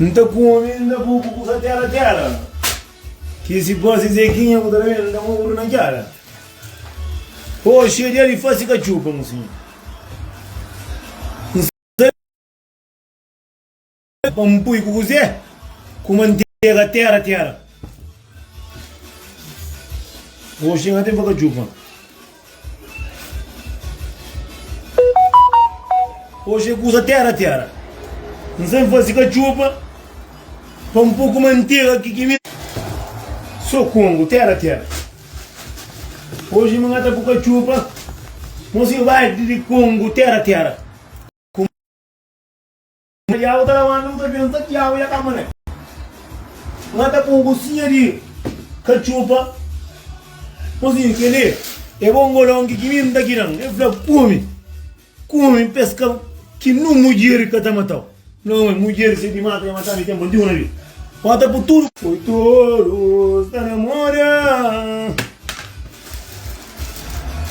N ta kume, N da bu ku kusa tera tera. Ki si fasi zekinha ku ta da mel, N da mu oru na kera. Oh, xie dia di fasi kachupa, mu sinha. N sa pa N pui ku kuzé, ku mantega tera tera. Oh, xinha ten fa kachupa. Oji é kuza tera tera N sen fazi katxupa Pa un poku mantega ki ki mi So kongu tera tera Oji mi ngata ku katxupa Mosi vadi di kongu tera tera Tiagu ta labanta bu kabesa. Tiagu dja ka mane. N ta pon kusinha di katxupa. Kusinha, kel li é bongolon ki ki mi N ta kida-m. El fla, Kume, kume, peska ki nun mudjer ka ta mata-u. Fla, Ome, mudjer se ki mata dja matadu di tenpu antigu na Bíblia. N ta pun tudu. Poi torus ta namora.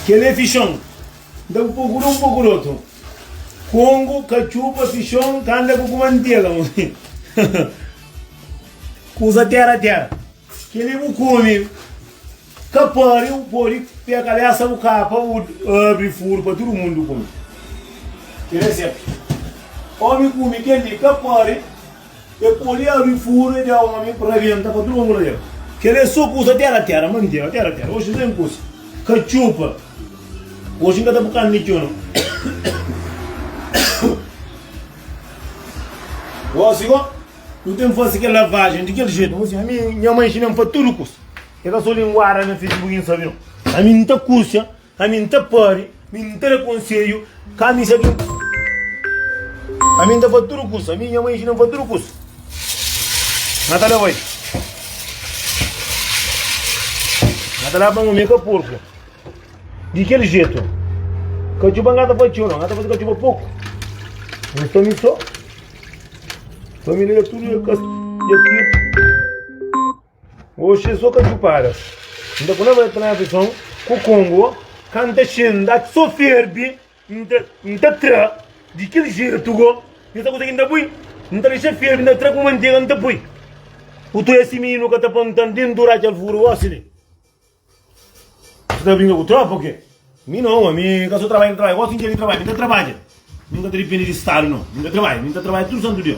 Kel li é fixon. N ta pun poku di un, poku di otu. Kongo ka txupa si xon ka anda ku ku mantega Kuza tera tera Keli bu kume ka pari u podi pia kabesa bu kapa u abri furu pa tudu mundu kume Ki reseta Omi kume keli ka pari E pode abri furu e dja omi pa rabenta pa tudu angula el kel e so kusa tera tera manteru tera tera oxi zen kusa ka txupa oxi nka ta bu kande txeu no gosi go nu ten fasi kel lavajen di kel jetu mos ami nha mai nxinan fa tudu kusa e ka so linguada na fisibu ki nsabi no ami nta kusa Ami n ta pari, mi n ta da konsedju, ka mi sa ki n. Ami n ta fazi tudu kusa, mi i nha mai inxina-m fazi tudu kusa. N ta leba-i. N ta leba-m ami ka porku. Di kel jetu, ka txuba n ka ta fazi txeu, no, n ka ta fazi ka txuba poku. N sta mi so. Família da tudo é cast. Oxi es so ka txupadas. N ta kulaba ta na fison ku kongo ka N ta xe N da ki so ferbi N ta N ta tra di kel jetu go N sa kusa ki N ta pui N ta dexa ferbi N ta tra ku mantega N ta pui Ku tu esi mininu ka ta pa N ta N tentu ra kel furu Oxi li bu ta brinka ku tropa o ke? Mi no omi mi ka so trabadja N ta trabadja gosi N ke di trabadja mi ta trabadja mi ka ta dipindi di stadu no mi ta trabadja mi ta trabadja tudu santu dia.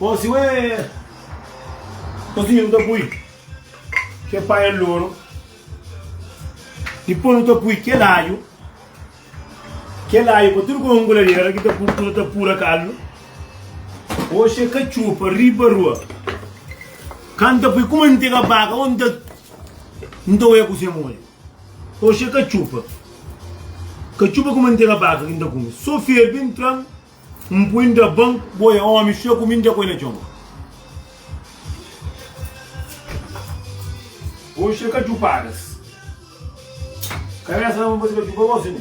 Osi ué Osi nu ta pui kel paia loru Dipôs nu ta pui kel alhu Kel alhu pa tudu kuma unguladera ki ta pur ku nu ta pura kalu Oxi é katxupa riba rua Ka nu ta pui kuma nu tega baka ô nu ta Nu ta oia kuze modi Oxi é katxupa Katxupa kuma nu tega baka ki nu ta kume So ferbi nu tra-m. N pui N da ban, bo é ómi, fia ku mi N dja poi na txon. Oxi é ka djupadas. Kabésa laba bas ka djupa gosi nu.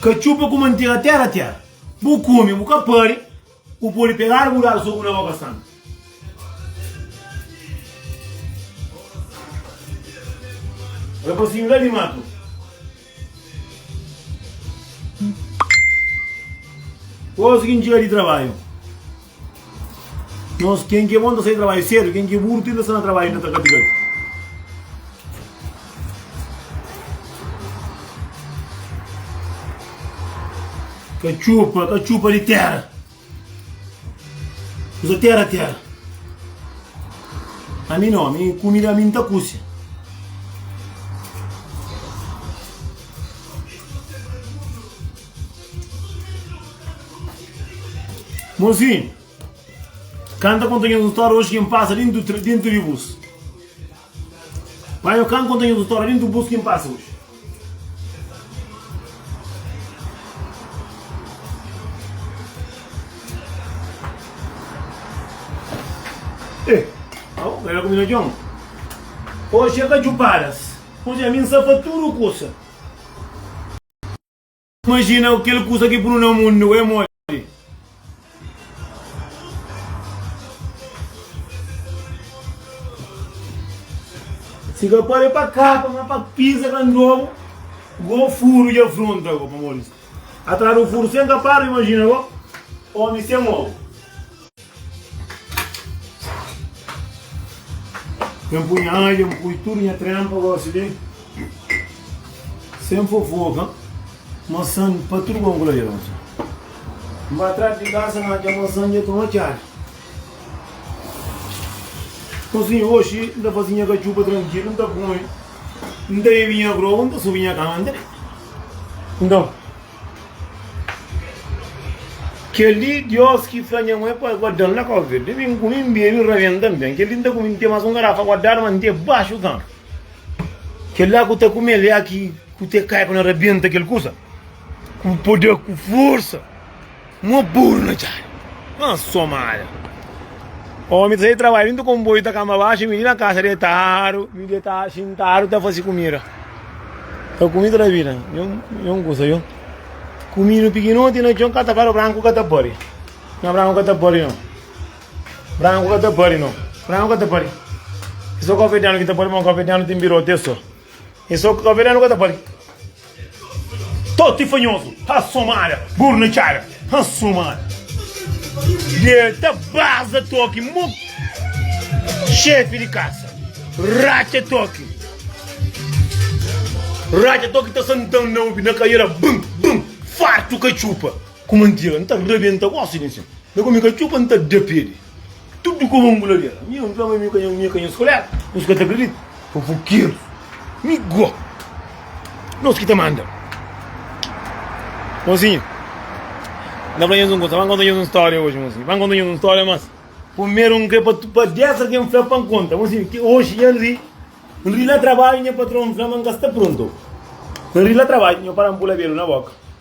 Ka txupa ku mantega tera tera. Bu kume, bu ka pari, bu podi pegadu bu dadu soku na boka san. Rapasinhu la di matu. Ozi ki n'djia di trabaiu. Nos ken ki é bom ta sai trabaiu sedu, ken ki é buru tenta sta na trabaiu inda ta katikadu. Katxupa, katxupa di tera. Kuza tera tera. A mi no, mi kumida mi nta kusi. Monsinhu, kanta konta nhos un stória oji ki N pasa dintu dintu di bus. Panha o kan konta nha tutória dentu bus kin pasa oji. Eh, au, ela ku mina John. Oji é ka djupadas. Oji ami n sa pa tudu kusa. Imajina kel kusa ki punu na mundu é modi. Si ka pode pa kapa ma pa pisa ka ndobu go furu dja fronta go pamodi atrás du furu sem kapadu imajina go omi sem ogu. N pui nha alha, n pui tudu nha tranpa gosi li sem fofoka masan pa tudu bom kula dja gosi n ba tras di kasa n atxa masan dja toma txadu gosi oxi n ta fasi nha katxupa trankilu n ta kumi n ta bebi nha grogu n ta subi nha kama n ta deita nton Kel-li Diós ki fla nha mui pa el guada-m na kóvi, el ta bini ku mi, n bebe, n rabenta. Nton, kel-li N ta kume, N ten más un garafa guadadu, má N ten baxu kantu kel-la ku ta kume-l é ki ku ta kai pa na rabenta kel kusa ku poder, ku forsa. Mo buru na txada na somada. Omi ta sai trabadju dintu konboiu ta kamba baxu mi li na kasa detadu mi detadu xintadu ta fasi kumida ta kumi toda vida yon kusa yon kuminu pikinoti na txon ka ta kada branku ka ta pari na branku ka ta pari no branku ka ta pari no branku ka ta pari só kofetenu ki ta pari ma kofetenu tin birote so E so ka veneno ka ta pari Toti fanhoso ha somada Burna txada ha somada Deta baza toki mo Xefi di kasa ratxa toki Ratxa toki ta santan na obi na kaiera Bum bum fartu katxupa ku mantiga N ta rabenta gosi di nsin Na ku mi katxupa N ta da pedi. Tudu kuma un buladeira. Mi un fla ma mi ka nhu, mi ka nhu skulera. Nhos ka ta kridita. Fofokeru. Mi go. Nos ki ta manda. Mozinho. Na fla nhos un kusa. Ban konta nhos un stória hoje, mozinho. Ban konta nhos un stória, mas. Primeru un kre pa, pa desa ke n fla pa n konta. Mozinho, ki hoje nha n ri. N ri na trabadju, nha patron fla ma n ka sta prontu. N ri na trabadju, nhos para n pula belu na boka.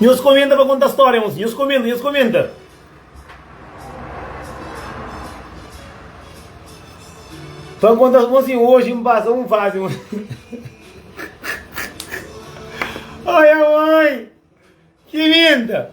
Nhos komenta pa konta stória mosi. Nhos komenta, nhos komenta. Pa konta mosi, hoje m pasa um fase mosi. Olha mãe, que linda!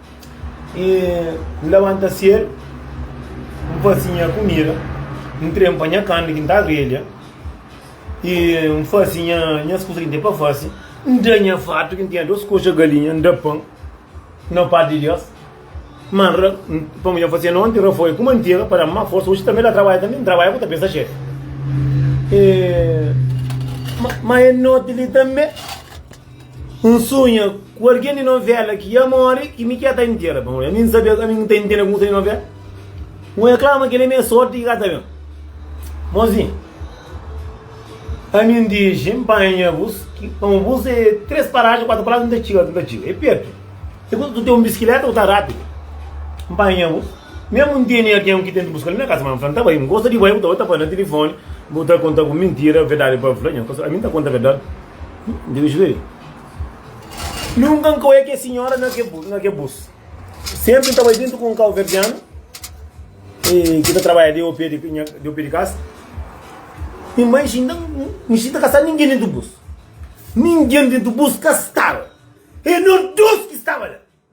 N labanta sedu, N fase nha kumida, N trempa nha karni ki N ta grelha, i N fase nhas kusa ki N ten pa fase, N da nha fatu ki N tinha dôs koxa galinha, N da pan na pá di Deus. Má N ra, pamodi nha fase nonti, N rafoia ku mantega pa da-m más forsa. Oji tanbê N ta trabadja, tanbê N trabadja ku ta pensa xéfi. Má é noti li tanbê. N sonha ku algen di novela ki ia mori i mi ki ia ta intera. Pamodi ami N sabia ami N ta intera ku un seri novela. N oja kla ma kel-li é nha sorti ki ka ta ben. Mozinhu, ami N dixi N panha-bus pa un bus é três parajen, kuatu parajen N ta txiga, N ta txiga. É pertu. É kuza ku ta ten un biskileta ku ta rápidu. N panha-bus. Mésmu N tene algen ki ta intra buska-m na kaza, ma N fla N ta bai. N gosta di bai, bu ta bai, bu ta fla na tilifoni, bu ta konta-m mintira, verdadi pa bu fla. Ami N ta konta verdadi. Deus vê. Nunka N ka oia kes sinhora na ke bu, na ke bus. Sempri N ta bai djuntu ku un kauverdianu eh, ki ta trabadja de opé de, nha- de opé de kasa. Mi manxi nda, nxi nda ka sta ningen dentu bus. Ningen dentu bus ka staba. E nos dos ki staba la.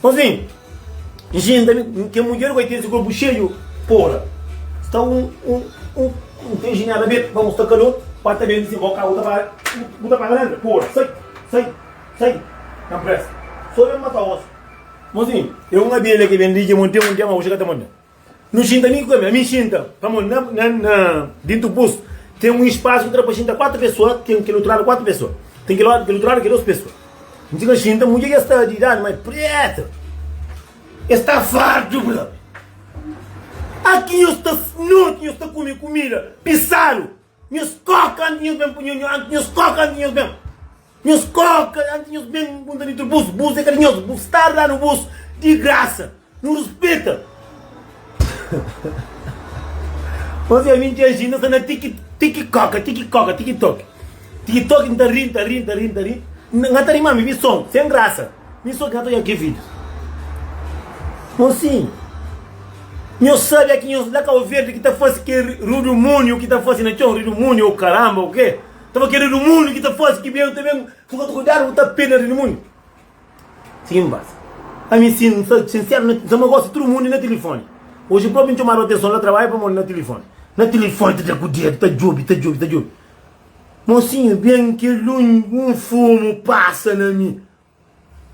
Por fin, N xinta kel mudjer ku el, tinha se korpu xeiu pora. Sta un injinha ta ben pa musta kalor, pa ta ben di si boka, Agu ta para, bu ta paga renta? Pora, sai, sai, sai na presa, so ben mata osi. Mozinhu, e un abelha ki ben di dja monte un dia, ma oxi ka ta monta. Nu xinta ami ku kami? Ami xinta, pamodi na na na dintu bus ten un espasu ki ta da pa xinta kuatu pesoa, ten kel otu ladu kuatu pesoa, ten kel ladu kel otu ladu ke dos pesoa. Mi txiga xinta, mudjer ki es ta di idadi mai preta, e sta fartu ku la. Aki nhos ta noti nhos ta kume kumida pisadu. Nhos koka antis nhos ben punhus antis nhos koka antis nhos ben nhos koka antis nhos ben punta di tribus bus é ka di nhos bu sta a danu bus di grasa nu rispita nhos é ami dja ji nhos sta na tiki tiki koka tiki koka tiki toki tiki toki nta ri nta ri nta ri nta ri nga ta ri ma mi vi son sen grasa. Mi so ka ta oja ki vídiu. Mo sin, nhos sabe ki nhos la kau verdi ki ta fasi ke rudumúniu ki ta fasi na txon, rudumúniu ou karamba ou ke, ta ba ke rudumúniu ki ta fasi ki ben ta ben fika kudadu bu ta pena rudumúniu. Sigi n basa. Ami sin, n sa sinseru na, n sa ma gosi tudu mundi na tilifoni. Oji propi n txomadu atenson la trabadja pamodi na tilifoni. Na tilifoni ta da ku dedu, ta djobi, ta djobi, ta djobi. Mosinhu ben ki lunhi un fumu pasa na mi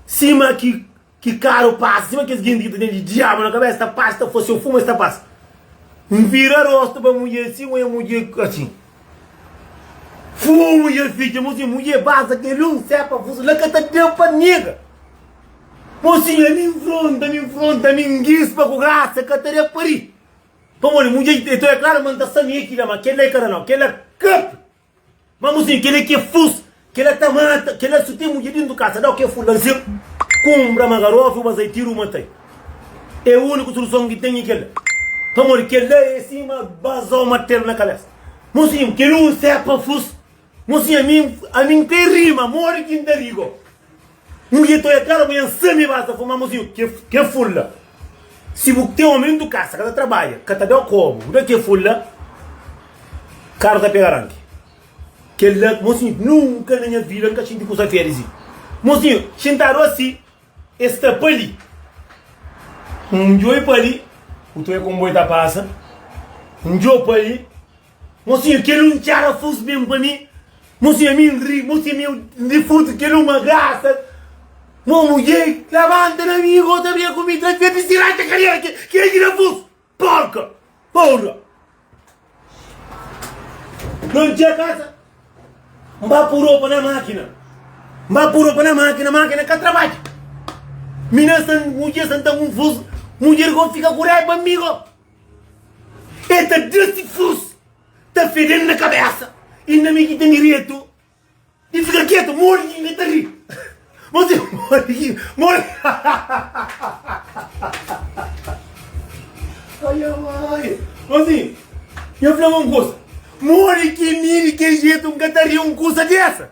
sima ki ki karu pasa sima kes genti ki ta ten diabu na kabesa ta pasa ta fase fumu es ta pasa N vira rostu pa mudje si nwe mudje asin fumu dja fitxa mosinhu mudje basa kel un sepa fus la ka ta da pa nega mosinhu ami nfronta ami nfronta ami ndispa ku grasa ka ta da pa ri Pamodi mudjer di Eton é klaru ma N ta sta mia ki la, ma kel la é kada nau, kel la kape. Ma muzinhu, kel la ki é fus, kel la ta mata, kel la su ten mudjer dintu kasa, dau kel fus la nsin kunbra ma garofi u bazai tiru u matai. É uniku soluson ki N ten é kel la, pamodi kel la é sima bazau matel na kabesa. Muzinhu, kel un sepa fus. Mosinha ami ami n pe rima modi ki n ta rigo N ri toi atrás manhã n sa mi ba sa fuma Mosinho ke ke fula Si bu ten omi ntu kasa ka ta trabadja ka ta da kobu bu da ke fula Karu ta pega ranki Kel la Mosinho nunka na nha vida n ka xinti kusa fia di si Mosinho xintadu asi e sta pa li N djoi pa li Ku toi konboi ta pasa N djo pa li. Mosinha kel un txera fus mesmu pa mi Mosinha mi n ri Mosinha mi n ri fus kel un ma grasa Mo mudjer labanta na mi Bo ta brinka ku mi Tra dja distirá dja karera ki ki agi na fus Porka Porra Nau n txia kasa N ba pu ropa na mákina N ba pu ropa na mákina Mákina ka trabadja Mi na sa mudjer santa ku n fus Mudjer go fika ku raiba mi go E ta da si furus ta fede-l na kabésa i na mi ki ten direitu di fika ketu. Modi ki N ta ri? Bo sibi modi ki modi? Aiamai! Bo sibi? Nha fla-bu un kusa, modi ki mi di kel jetu N ka ta ri un kusa desa?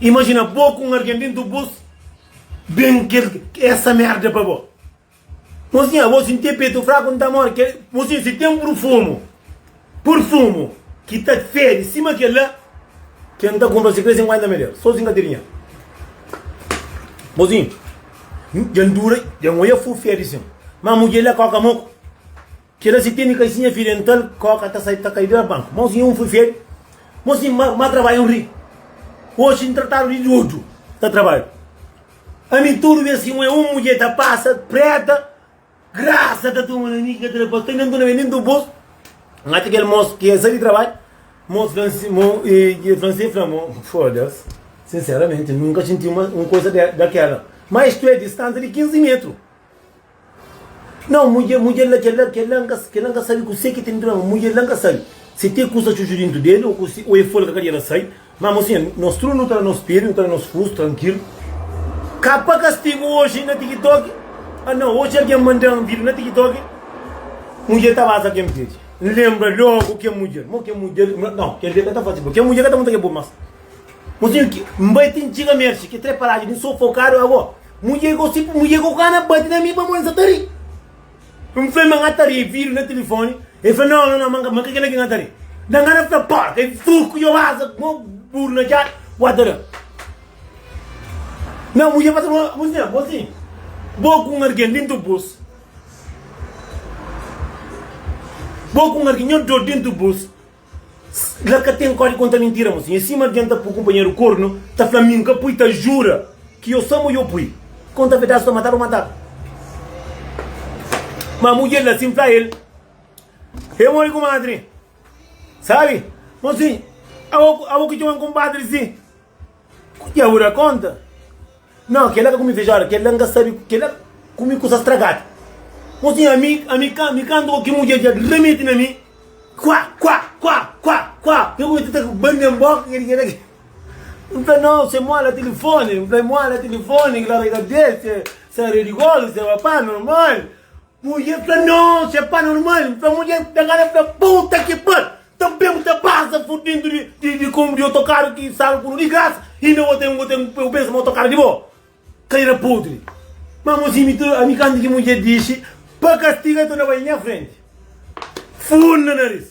Imajina bo ku un algen di entri bus ben kel esa merda pa bo. Mosinha, abo sinti e petu fraku n ta more. Kel mosinha si ten purfumu, purfumu ki ta fede sima kel la, kel n ta kunpra si krê sinkuenta meder. So sin ka tiri nha. Mosinha, dja n dura, dja n oia fu fede sin. Ma mudjer la koka moku. Kela si tene kaixinha fi dental koka ta sai ta kai dra banku mau si un fui feri mau si ma ma trabaiu ri oxi n tratadu di dodu ta trabaiu ami tudu bes si un é un mudje ta pasa preta grasa ta tuma na mi ki ka tra pa sta nen tuna be nen tu bos n atxa kel mos ki é sa di trabai mos fransi mo e fransi fla mo fodas sinseramenti nunka xinti un koisa de dakela ma istu é distansa di 15 metru Nau, mudjer, mudjer la, kel-la, kel-la N ka, kel-la N ka sabe kuse ki ten drama, mudjer la N ka sabe si te kusa txutxu dintu del o kuse, o e folga ka djera sai, ma mo sinha, nos tudu nu ta na nos pedi, nu ta na nos kusu, trankilu. Ka pa kastigu oji na tikitoki, a nau, oji algen manda-m vir na tikitoki, mudjer ta basa ken pedi, N lenbra logu ken mudjer, mo ken mudjer, nau, kel-li ka ta fase bo, kel mudjer ka ta monta kel bo mas. Mozinhu ki N bai ti N txiga Mersi ki tre paradju di N sofokadu ago Mudjer ku si mudjer ku kana bati na mi pamodi N sa ta ri N fla-l ma N ka ta ri E viri na tilifoni e fla No no no ma N ka kel-la ki N ka ta ri Dan gana fla Porka e fru ku yo asa ku mo buru na djada Wa ta da Na mudjer pasa bo Mozinha mozinhu Bo ku un argen dentu bus Bo ku un argen Nho dor dentu bus La ka ten kóde konta mintira mô sinha Sima algen ta pui kunpanheru kornu Ta fla mi nka pui ta jura Ki yo sa mo yo pui Konta verdadi sta matadu matadu Ma mudjer la sin fla el E modi kumadri Sabi mô sinha Abo ki txoman kunpadri si. Ku Dia bu da konta? Nau, kela ka ku mi fijada, kela N ka sabe, kela ku mi kusa stragadu. Ô sinhor, ami, ami, ami kanta o ki mudjer dja remeti na mi, Kuá, kuá, kuá, kuá, kuá, N kumesa ta bande N boka, kila, kila, kila. N fla, Nau, se mola tilifoni, N fla, mola tilifoni, kila ora ki ta bese, sa redi golu, sa papá, normal. Mudjer fla, Nãu, se pá normal. N fla, Mudjer ta ngana, fla, Puta ki par! Tanbê bu ta pasa fudidu di, di, di kombu di otokaru ki sal ku nu di grasa, inda bo ten, bo ten, bu pensa ma otokaru é di bo? Kadeira podri! Má mozinhu, mi ta, ami kantu ki mudjer dixi pa kastiga, el ta na bai nha frenti, fun na naris.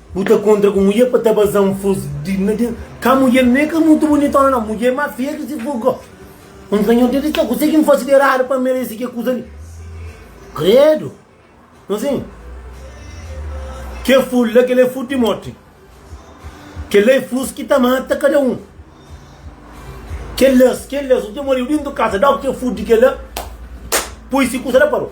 Bu ta kontra ku mudjer pa ta baza un fus di na den ka mudjer me ka mutu bunitona na mudjer ma feia ki si fus gosi un sanhor deti sa kuse kin fasi di eradu pa meresi ke kusa li kredu no sin ke fus la kela e fus di morti kela e fus ki ta mata kada un kelas kelas un ke moriu dintu kasa da oki e fus di kela pui si kusa la parou.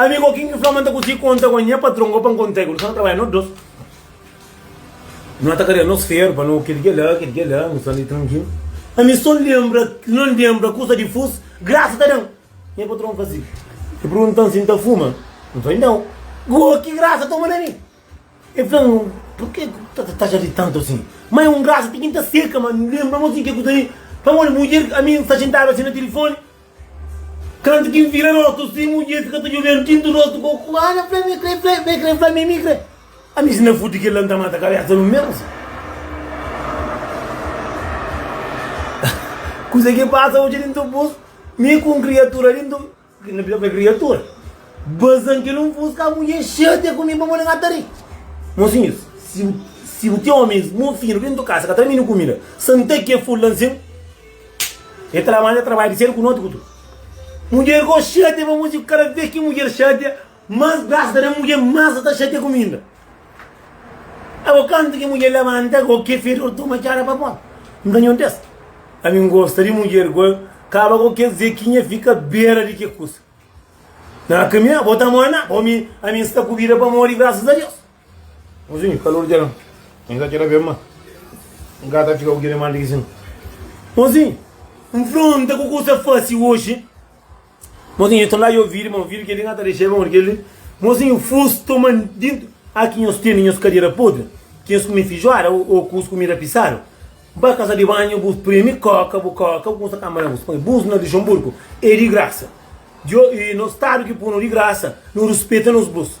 Amigu, o kin ki fla ma N ta kusi konta ku N? Nha patron gopa N konta-i ku nu sta na trabadja nos dos. No ta karia nos feru pa no kel-ki la, kel-ki ki la, nu sta li trankil. Ami so N lenbra, no N lenbra kusa di fus, grasa ta da-m. Nha patron fazi i pergunta-m si N ta fuma. N fla-i nau. Go, ki grasa toma na mi? El fla-m, Purki bu ta taxa ri tantu asin? Ma e un grasa ti ki N ta seka, ma N lenbra-m asin, ke kusa li? Pamodi mudjer ami N sta xintadu asin na tilifoni, Kantu ki N vira rostu si, mudjer fika ta djobe-m ti N ta rostu ku oku. Ana fla-m, Mi kre fla-i, fla-i, kre-m fla-mi, mi kre. Ami si N na fudi kel-la, N ta mata kabésa di un mês. Kuza ki pasa odja di ntubus, mi ku un kriatura di ntu, ki na bira fla-i kriatura, baza-m kel un fuska, mudjer xatia ku mi pamodi N ka ta ri. Mosinhus, si bu, si bu ten omis mofinu di ntu kasa ka ta da-m inu kumida, santa ki é ful la nsin. E ta labanta trabadju di sedu ku noti ku tudu. Mudjer ki o xatia pa mostra ki kada bes ki mudjer xatia, mas grasa ta da mudjer, mas el ta xatia ku mi inda. Abo kantu ki mudjer labanta ku ke fedor toma txada pa pora. N ta nhontesa. Ami N gosta di mudjer ku el kaba ku kes dia ki nha fika bera di ke kusa. Na kamia bo ta manda, bo mi, ami N sta ku bida pamodi grasas a Deus. Mozinhu, kalor dja N ka kera ben ma N ka ta fika ku kile mandi ki sin Mozinhu, nfronta ku ku sta fasi oji Mozinhu, e tolai o viri ma o viri keli N ka ta dexa e ba modi keli Mozinhu, fus toma dintu A ki nhos tene nhos kadera podri Ki nhos kume fijuada o kus kumida pisadu Ba kasa di banhu bu sprimi koka bu koka bu kusa kama na bus Poi bus na Luxemburgo e di grasa Djo i no stadu ki punu di grasa Nu ruspeta nos bus.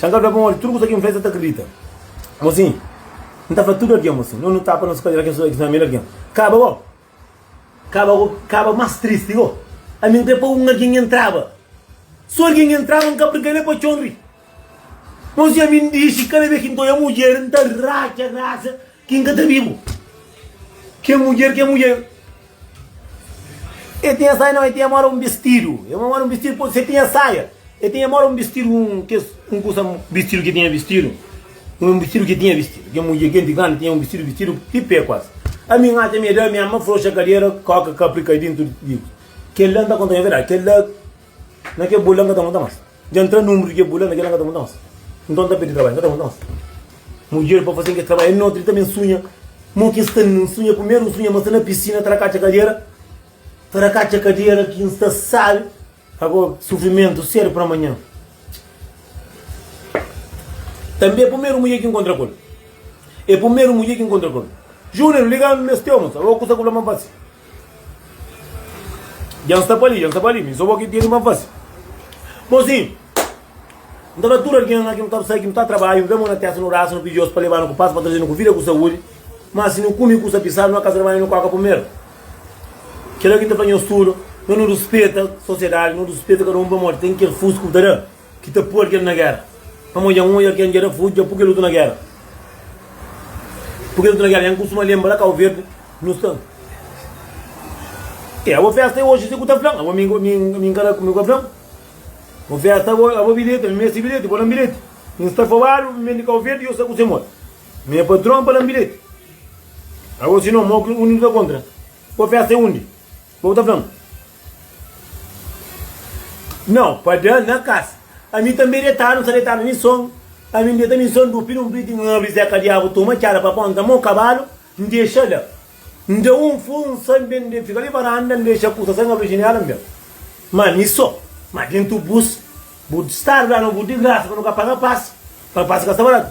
Xan ka fla pa modi tudu kusa ki N fla es sa ta kridita. Mo si N ta fla tudu algen mo si N nu ta pa nos kalera kes kes família algen kaba go kaba go kaba más tristi go ami N kre pa un algen entraba so algen entraba N ka brga ne pa txon ri mo si ami N dixi kada bes ki N ta oja mudjer N ta ratxa ratxa ki N ka ta bibu ke mudjer ke mudjer. E tinha saia nau e tinha mora un bistidu e ma mora un bistidu po se tinha saia e tinha mora un bistidu un kes un kusa bistidu ki tinha bistidu un bistidu ki tinha bistidu ken mudje ken ti grandi tinha un bistidu bistidu ti pé kuas ami n atxa mi e da mi ami ma froxa kadera koka kapri kai dintu di kela n ta konta nha verdadi kela na ke bul la n ka ta monta mas. Dja ntra nunbru dje bula na dje la nka ta monta nos nton nta pedi trabadju nka ta monta nos mudjer pa faze nge trabadju notri ta ben sunha mo ki nsta nsunha primeru nsunha ma sta na pisina ta rakatxa kadera ta rakatxa kadera ki nsta sabe ago sufrimentu sedu pra manhan tanbe e primeru mudjer ki nkontra kul e primeru mudjer ki nkontra kul junior liga-m nes tiomas ago kusa ku bla ma nfasi. Dja N sta pa li, dja N sta pa li, mi so bo ki tene ma fase. Mozinhu, N ta fla tudu algen la ki nu ta sai, ki nu ta trabadju, nu poi mon na testa, nu rasa, nu pidi Deus pa lebanu ku pas, pa trazenu ku vida, ku saúdi. Má si nu kume kusa pisadu, nu na kasa damai, nu koka primeru. Kel la ki N ta fla nhos tudu, ma nu rispeta sosiedadi, nu rispeta kada un pamodi ten kel fusku ki bu ta da. Ki ta pôr kel na géra. Pamó dja N odja kel N dja-da fudja pur kel otu na géra Pur kel otu na géra Dja N kustuma lenbra la Kau Verdi nu sta Ê abo fésta é oji si ku ta fla-m Abo mi mi N ka da mi ka fla-m Bo fésta abo abo bilheti mi meste bilheti Bo da-m bilheti mi N sta fobadu mi ben di Kau Verdi yo sta ku se modi Nha patron pa da-m bilheti Abo si no mo ki undi nu ta kontra Bo fésta é undi Má bu ta fla-m, Nau, pa da-l na kas. Ami tanbe detadu, N sta detadu na son, ami N deta na son dupi di un priti, N abri Zé kadiabu, toma txada pa ponta mo kabalu, N dexa la. N da un furu, N sai, N ben, N ben fika di varanda, N dexa kusa sai, N abri jinéla, N ben. Má mi so. Má déntu bus, bu stadu da-nu bu digrasa pa nu ka paga pas, pa pas ka sta baratu.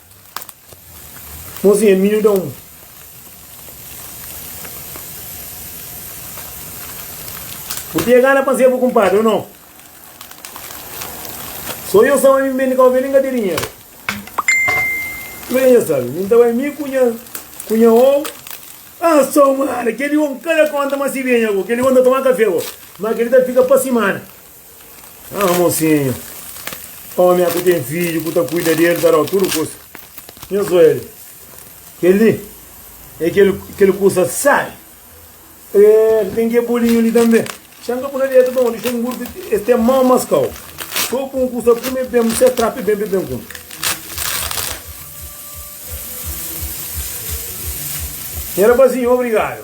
Mozinha minhu da un. Bu tinha gana pa N ser bu kunpadri o nau? So yo sa ma mi N ben di Kau Verdi N ka ten dinheru Kuma é ke nha sabe? Mi N ta bai mi ku nha ku nha ou Ah so mara, kel-li ou N ka da konta ma si ben nha ku kel-li ou N ta toma kafé bo Ma kel-li ta fika pa simana Ah, mocinho, homem aku tem filho, ku ta cuida dele, ta dau tudo coisa. Nhos oele, kel li é kel, kel coisa sai. É, tem que bolinho ali também. Xanga pula dentro, bom, deixa um burro, este é mau mascau. Só com coisa come bem, você trape bem, bem, bem, come. Era bazinho, obrigado.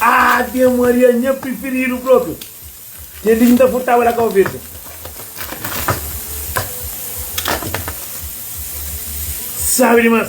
Ave Maria, nha preferido próprio. Que linda furtava da cabeça. Sabe demais.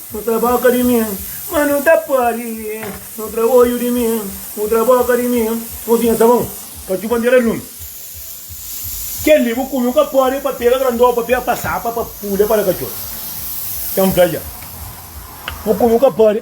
Nu tra boka di mi, ma nu ta pode Nu tra oju di mi, nu tra boka di mi Mozinha sabon, pa txu bandera lumi Kel-li bu kume, bu ka pode Pa pega grandó, pa pega pasapa Pa pula pa la katxor, ten fla dja Bu kume, bu ka pode.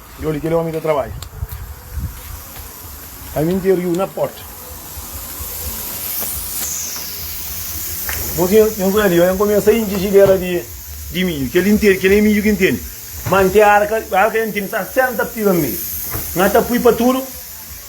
Di odi kel omi ta trabadja pa mi nte riu na porta Dipos nhen nhen foi ali nhen começa intxi xidera di di midju kel li ntende kel li midju ki ntende ma nte arka arka nhen tene 60 piga meio nha ta pui pa tudo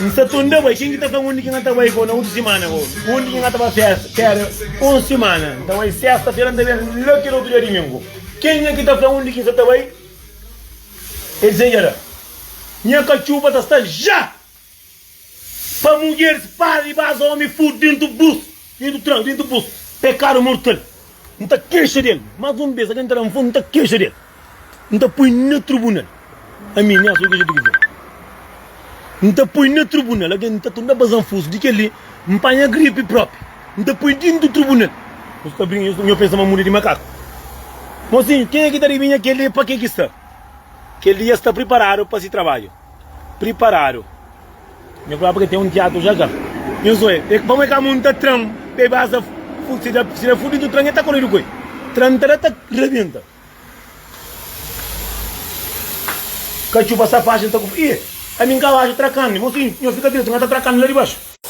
N sta tunda bai, ken ki ta fla-m undi ki N ta bai na otu simana? Ô undi ki N ta ba festa? Pera un simana, N ta bai sesta-fera, N ta ben la kel otu dia dumingu. Kenha ki ta fla-m undi ki N sta ta bai? El dizejada, Nha katxupa ta sta ja pa mudjeris, para di baza omi, fudu dentu bus. Dedu trau dentu posu, pekadu mortal. N ta kexa del, mas un bes, agen ta da-m fon, n ta kexa del, n ta poi na trubunal. Ami, nha so kexa di governu. N ta poi na trubunal, agen n ta tunda baza-m fus. Di kel-li, N panha gripi propi, N ta poi dentu trubunal. Nhos ta brinka, nhos pensa ma muda di makaku. Mosinhu, kenha ki ta adivinha kel-li, pa ke ki sta? Kel-li ja sta priparadu pa si trabadju. Priparadu. Nha fla pa ke ten un tiatu ja ka. Nhu so e pa mo e ka munta tran pa e basa si da si da fudidu tran e ta koridu ku e. Tran ta da ta rebenta. Ka txupa sa faxen ta ku. Ih ami nka baxu trakan li. Mosinhu nho fika dretu nka ta trakan li la di baxu.